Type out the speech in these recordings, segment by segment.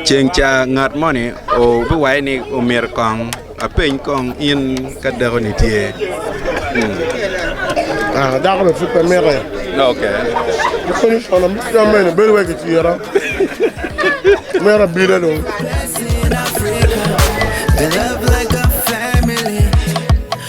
Ceng ca ngat moni obiwaci ni omyero kong apeny kong in ka dakoni tye. Ah, dakoni pud pe mite. Oke. Koni kono mit ka mene bedo wai kicira. Mera bila dong. Blessing in Africa. They love like a family.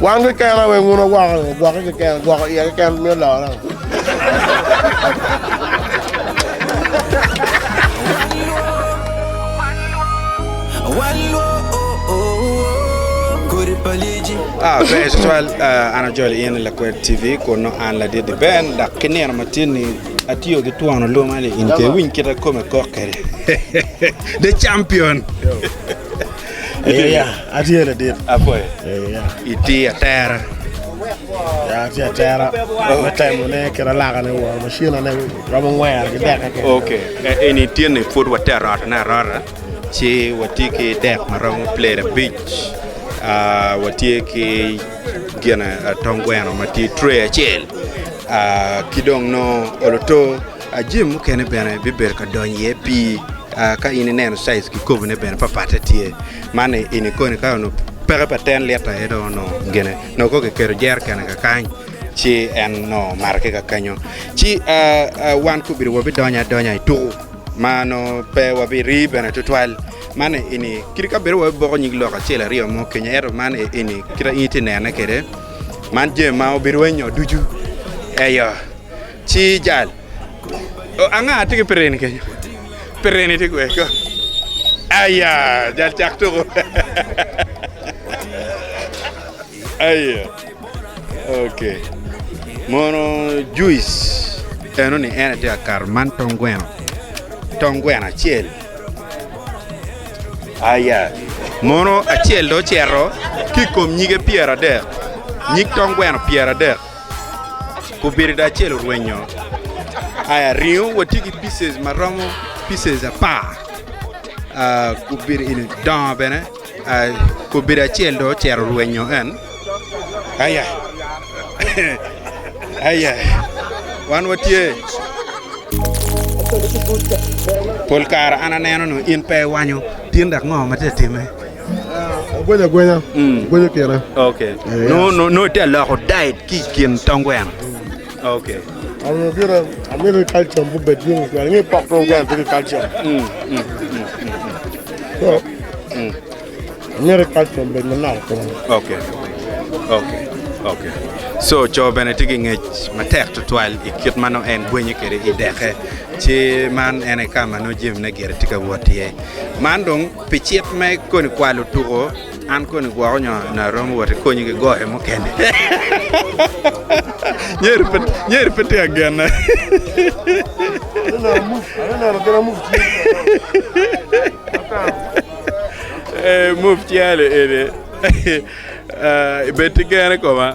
Wan keken aye weng un wagwoko ni, gwokke keken, gwoko iye keken mito lore. Ah, ber tutwal. Ah, an ajoli in i Lakwed TV kun nongo an ladidi Ben dok ki nino matin-ni atiyo ki twon oluma-ni in pe iwiny kite kome kok kwede. The Champion! Ite ya, atye ladit. Apoyo. Ee, ya. Iti atera. Ya, atye atera. Me temone kit alakane wa, macinane romo ngwera ki deka kene. Ok. E, eni tye ni pud wati arotone arota, ci wati ki dek ma romo plate abic. Ah, watye ki gin ah, tong gweno ma tye tray acel. Ah, ki dong nongo oloto. Jami mukene bene bibedo ka donyo iye pii ka in ineno size ki kobone bene papatte tye man ini koni ka onongo peke pa ten lita aye dong onongo gine nongo kong kiketo jerekene kakany ci en nongo mato ki kakenyo ci wan kobedi wabidonyo adonya ituku ma nongo pe wabiri bene tutwal man ini kit ka bedo wai boko nyig lok acel aryo mo kenyo ento man ini kita in iti nene kede man jami ma obedo wai nyo ducu eyo. Ci jal, Oh, anga tye ki pirini kenyo? Pirini tye kwede kong? Aya, jal cak tuko. Aya. Okay. Mono juice eno ni en atye akato man tong gweno. Tong gweno acel. Aya. Mono acel do cero ki kom nyige pyera dek. Nyig tong gweno pyera dek. kubirido acel orwenyo aya ringo watye ki pieces ma romo pieces apar ah, kubiri ini dongo bene ah, kubiri acel do ocero rwenyo en aya aya wan watye pol kare an aneno ni in pe iwanyo tyen dok ngo ma tye ka timme Agwenya agwenya, agwenyo kina. Okay. No no no te loko diet ki kin tong gweno. Okay. Ano gire amiri calcium bu bed yung kwa ngi pok tong gweno tiki calcium. Mm. Mm. So, amiri calcium bed manok kwa. Okay. Okay. Okay. So co bene tye ki ngec matek tutwal i kit ma nongo en gwenyo kwede i deke. Ci man en aye ka ma nongo jamine gire tye ka wot iye. Man dong Pi cit me koni kwalo tuko, an koni gwoko nyo nyo aromo wot i konyi ki goyo mukene. Nyeri pe nyeri pe tye agene. Move calo eni. Ibed ki gen i koma.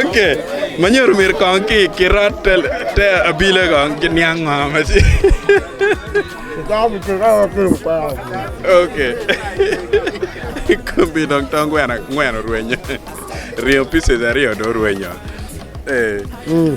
ok manyodo myero kong ki kirat te abile kong ki niang ngo ma ci ok kombi dong tong gweno angwen orwenyo ringo pieces aryo dong orwenyo eh. Mm.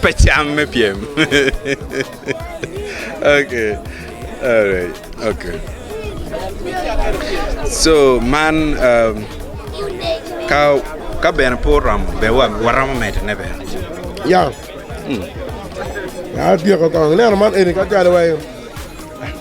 Pe cam me pyem. okay. Alright. Okay. So man um, ka ka bene po romo be wa waromo mede ne bene. Yeah. Mm. Ya tyeko kong. Neno man eni ka calo wai.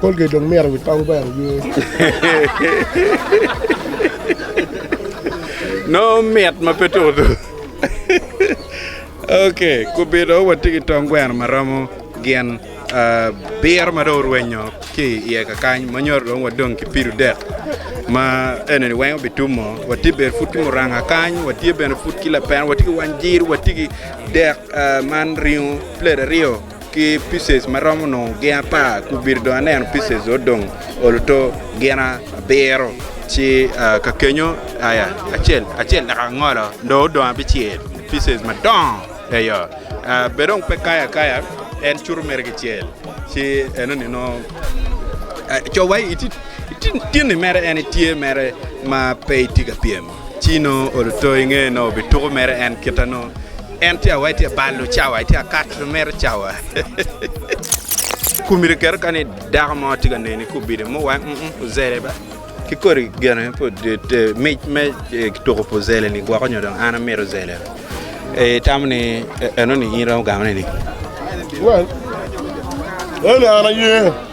Colgate dong mito wi tong gweno oye. Nongo mit ma pe tuku tuku. Ok, kubito watye ki tong gweno ma romo gin ah, biro ma dong orwenyo ki iye kakany ma nyoro dong wadong ki pido dek ma enini weng obitumo. Watye bene pud ki muranga kany, watye bene pud ki lapena, watye ki wanjir, watye ki dek ah, man ringo plate aryo. ki pieces ma romo nongo gin apar ku obito dong aneno pieces ot dong oluto gin abiro ci ka kenyo aya acel acel dok angolo dong odong abicel pieces madongo eyo bed dong pe kayo akaya en cuto mere ki cel ci enoni nongo cowa itye ni mere en itye mere ma pe itye ka pyem. Ci nongo olo to i ngeye nongo bituko mere en kite nongo en tye awai tye balo cawa itye akato mere cawa. Kumi rikero kani dako mo tye ka neni kubide mo wa mm ozele ba ki kodi gene mic me tuko pi ozele ni gwoko nyo dong an amito ozele itamo ni enoni in romo gamo neni. Well, ene an aye.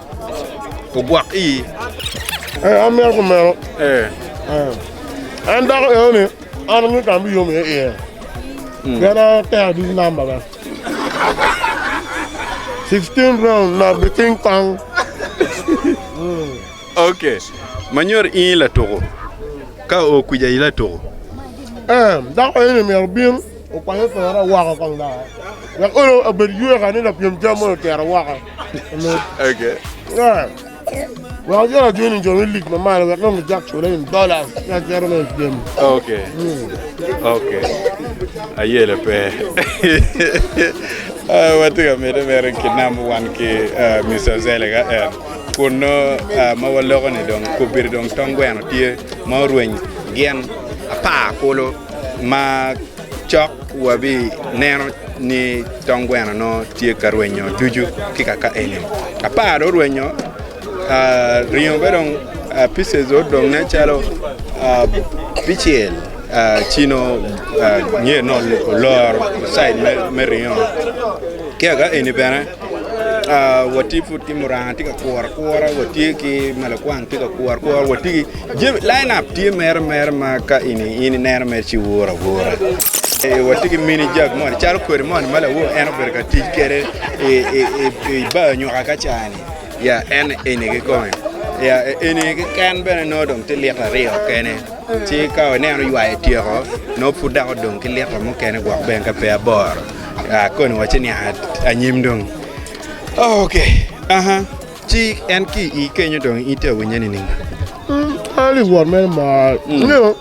ogwok i. Ee, an mito kumeno. Ee. En dako eno-ni, an angeyo ka an biyom iye iye. Mm. Pien an atero ducu namba bene. 16 round na bi ting tang. Okay. Manyor ingi latuko. Ka o kwija i latuko. Eh, dako eno mero bin okwanye pera waka kong da. Wek olo abed yue ka ni lapiem jam mo otero waka. Wek gin ajwiny jo me lig mamalo wek nongo gijak cula in dola ka gero me gem. Ok. Ok. Ayele pe. Ah, Watye ka mede mere kinam wan ki ah, Mr. Zele ka en. Kun no ah, ma waloko ni dong kobiri dong tong gweno tye ma orweny gin apar kulu ma Cok wabineno ni tong gweno nongo tye ka rwenyo ducu ki kaka eni. Apar dong orwenyo, ah, ringo be dong pieces dong odong nen calo abicel. Ah, cino ah, nge nongo oloro side me ringo. Ki kaka eni bene. watye pud ki muranga tye ka kuru akura watye ki ma lakwang tye ka kuru akura watye ki jami lain up tye mere mere ma ka eni in ineno mere ci iwor awora watye ki mini jag moni calo kodi moni ma lawo en obedo ka tic kwede i bar nyuka ka cani ya en eni kikome ya eni keken bene nongo dong tye lita aryo kene ci ka ineno ywayo tyeko nongo pud dok odong ki lita mukene gwok bene ka pe aboro. Ah, koni wacce ni a- anyim dong. Oh, ok. Aha. Ci en ki i kenyo dong ite awinye ni ning. Ali wot mere mar. Nyo.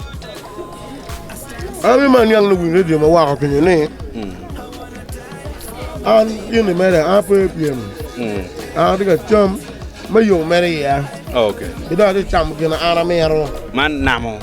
Abi man yang ni win radio ma wako pinyo ni. An yini mere an pe pyem. An atye ka cam me yo mere iya. Oh, ok. Ki dong atye ka camo gin an amiro. Man namo.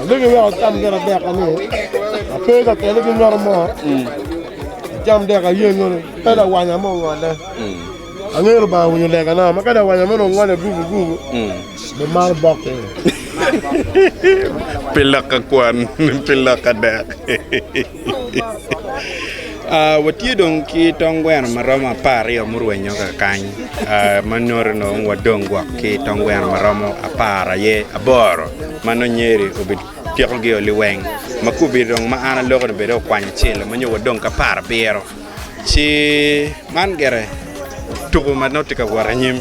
Alegi wek acam gin adek ni ape ka kene ki nyoto mo. Acam dek aye nyono ka lawanya mo ongole. Angelo ba winyo lega na ma ka lawanya mo ongole gugu gugu. Be mar bok ke. Pi loka kwan, pi loka dek. Watye dong ki tong gweno ma romo apar aryo murwenyo kakany ma nyuto ni dong wadong gwok ki tong gweno ma romo apar aye aboro ma nongo Nyeri obipikogi o liweng ma ka obedo dong ma an aloko-ni bene dong okwany acel-le ma nyo wadong ki apar abiro ci man gire tuku ma nongo tye ka wot anyim.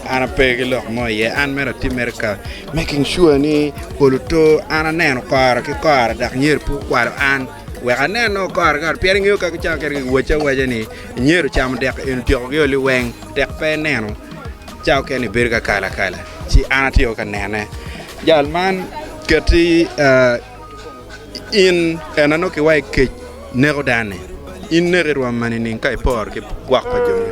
An ape ki lok mo iye, an mere atimmere ka making sure ni pol oto, an aneno kora ki kora dok nyer pe okwalo an wek anen o kora ki kora pien ingeyo ka kicamo kene gi wacci awaca ni nyer ocamo dek en otyeko gi oli weng tek pe ineno ca okene ibedo ka kala kala ci an atye o ka nene jal man keti in en anongo kiwa i kec neko dano-ni in neke rwom ma nining ka iporo ki gwok pa jo-ni.